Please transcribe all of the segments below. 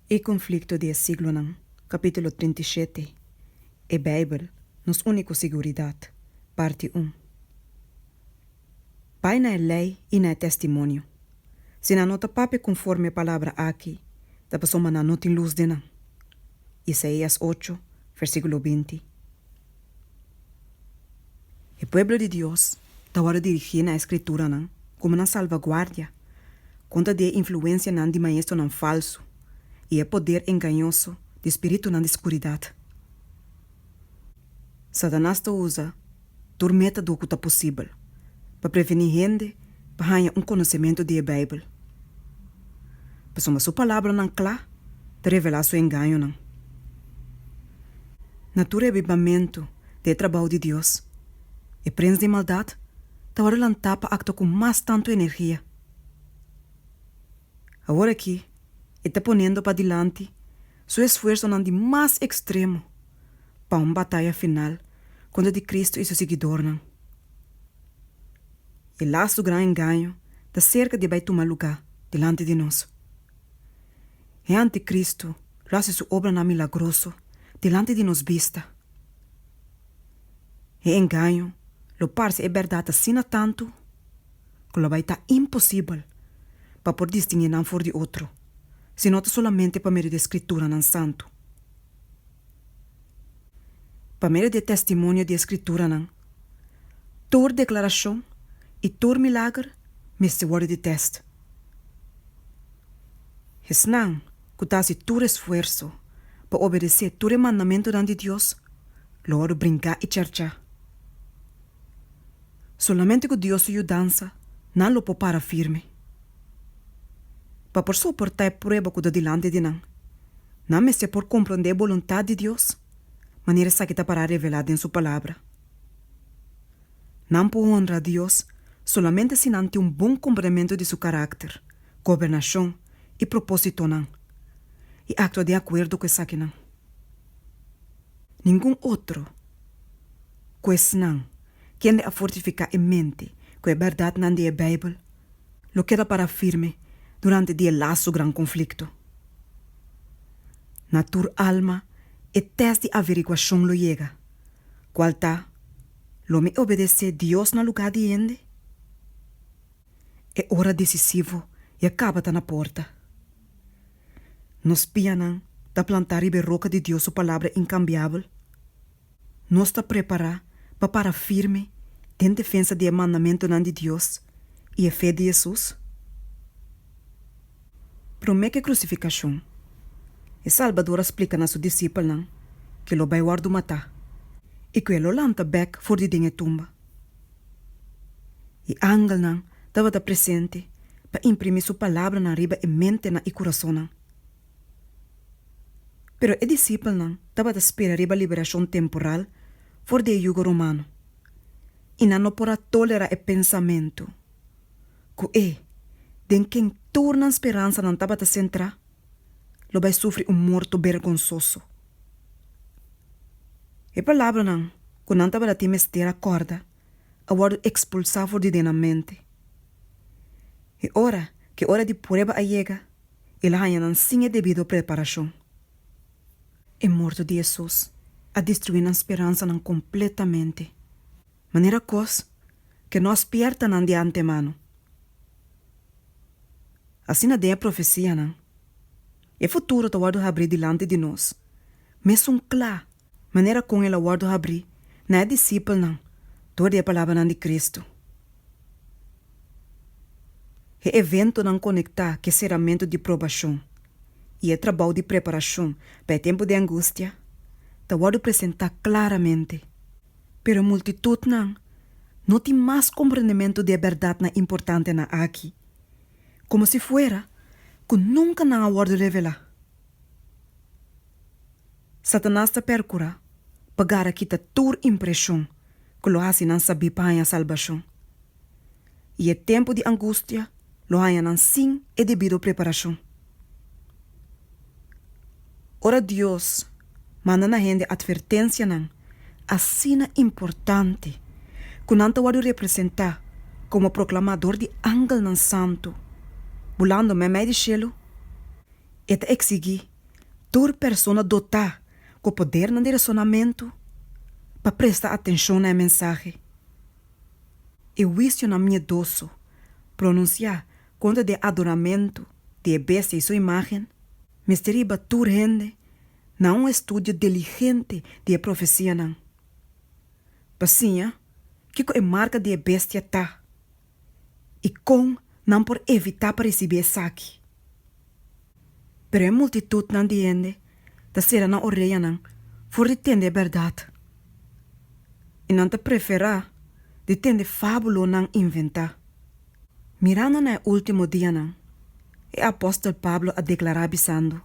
E konflikto di e siglonan, Kapítulo trinta i shete, E Beibel, nos úniko siguridat, Parti un, Bai na e lei i na e testimonio. Si nan no ta papia konforme e palabra aki, ta pasobra nan no tin lus den nan. Isaías ocho, versíkulo binti. E pueblo di Dios ta wòrdu dirigí na e Skrituranan komo nan salvaguardia kontra di e influensianan di maestronan falsu i e poder engañoso di spiritunan di skuridat. Satanas ta usa tur método ku ta posibel pa prevení hende Pa haña un konosementu di e Beibel. Pasobra su palabranan kla ta revelá su engañonan. Na tur e avivamentu di e trabou di Dios, e prens di maldat tabata lantá pa aktua ku mas tantu energia. Awor aki e ta ponendo pa dilanti su esfuersonan di mas ekstremo. pa un bataya final kontra di Kristu i su siguidornan. E lastu gran engaño ta serka di bai tuma lugá dilanti di nos. E antikristu lo hasi su obranan milagroso dilanti di nos bista. E engaño lo parse e bèrdat asina tantu ku lo bai ta imposibel pa por distinguí nan for di otro, sino ta solamente pa medio di e Skrituranan santu. Pa medio di e testimonio di e Skrituranan, tur deklarashon i tur milager mester wòrdu di tèst. Esnan ku ta hasi tur esfuerso pa obedesé tur e mandamentunan di Dios lo wòrdu brinká i chèrchá. Solamente ku Dios su yudansa nan lo por para firme. Pa por soportá e prueba ku ta dilanti di nan, nan mester por komprondé e boluntat di Dios, manera esaki ta pará revelá den Su Palabra. Nan por honra Dios solamente si nan tin un bon komprendementu di Su karakter, gobernashon i propósitonan, i aktua den akuerdo ku esakinan. Ningun otro ku esnan kende a fortifiká e mente ku e bèrdatnan di e Beibel lo keda pará firme durante di e lasu gran konflikto. Na tur alma e tèst di averiguashon lo yega, kual ta, Lo mi obedesé Dios na lugá di hende? E ora desisivo ya kaba ta na porta. nos pianan ta plantá riba e roka di Dios su Palabra inkambiabel. Nos ta prepará pa para firme den defensa di e mandamentunan di Dios i e fe di Hesus. Promé ku e krusifikashon, e Salbador a splika na su disipelnan ku e lo bai wòrdu matá i ku e lo lanta bèk for di den e tumba. E angelnan tabata presente pa imprimí su palabranan riba e mentenan i kurasonnan. Pero e disipelnan tabata spera riba liberashon temporal for di e yugo romano, i nan no por a tolerá e pensamentu ku e den ken tur nan speransanan tabata sentrá lo bai sufri un morto bergonsoso. E palabranan ku nan tabata tin mester a kòrda a wòrdu ekspulsá for di den nan mente. E ora ku e ora di prueba a yega, el a haña nan sin e debido preparashon. E morto di Hesus a destruí nan speransanan kompletamente, manera kos ku no a spièrta nan di antemano. Asina den e profesianan, e futuro ta wòrdu habrí dilanti di nos, mesun kla manera kon el a wòrdu habrí na e disipelnan dor di e palabranan di Kristu. E eventonan konektá ku e seramentu di probashon i e trabou di preparashon pa e tempu di angustia ta wòrdu presentá klaramente. Pero e multitutnan no tin mas komprendementu di e bèrdatnan importantenan akí, komo si fuera ku nunka nan a wòrdu revelá. Satanas ta percura pa gara kita tur impresion cu lo haci nan sabi pa haña salbacion, y e tempo di angustia lo haña nan sin e debido preparacion. Ora Dios manda na hende advertencianan asina importante cu nan ta wordo representa como proclamador di angelnan santu bulando memei di cielo, E ta eksiguí tur persona dotá ku podernan di resonamentu pa presta atenshon na e mensahe. E huisionan miedoso pronunsiá kontra di e adoramentu di e bestia i su imágen mester riba tur hende na un estudio diligente di e profesianan pa siña kiko e marka di e bestia ta. i kon nan por evitá pa risibí esaki. Pero e multitutnan di hende ta sera nan oreyanan for di tende e bèrdat i nan ta preferá di tende fábulonan inventá. Mirando na e último dianan, E apòstel Pablo a deklará bisando,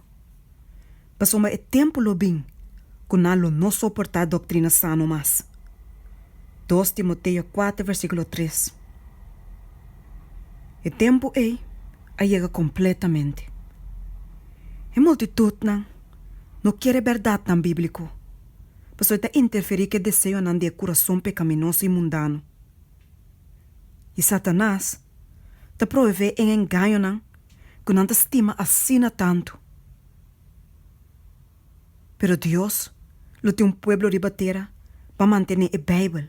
Pasobra e tempu lo bin ku nan lo no soportá doktrina sano mas. Dos Timoteo kuater versíkulo tres. E tempu ei a yega kompletamente. E multitutnan no kier e bèrdatnan bíbliko, pasobra e ta interferí ku e deseonan di e kurason pekaminoso i mundano. I Satanas ta proevé en engañonan ku nan ta stima asina tantu. Pero Dios lo tin un pueblo riba tera pa mantené e Beibel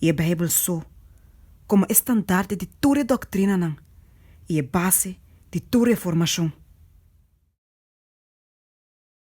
i e Beibel so komo e standarte di tur e doktrinanan i e base di tur e formashon.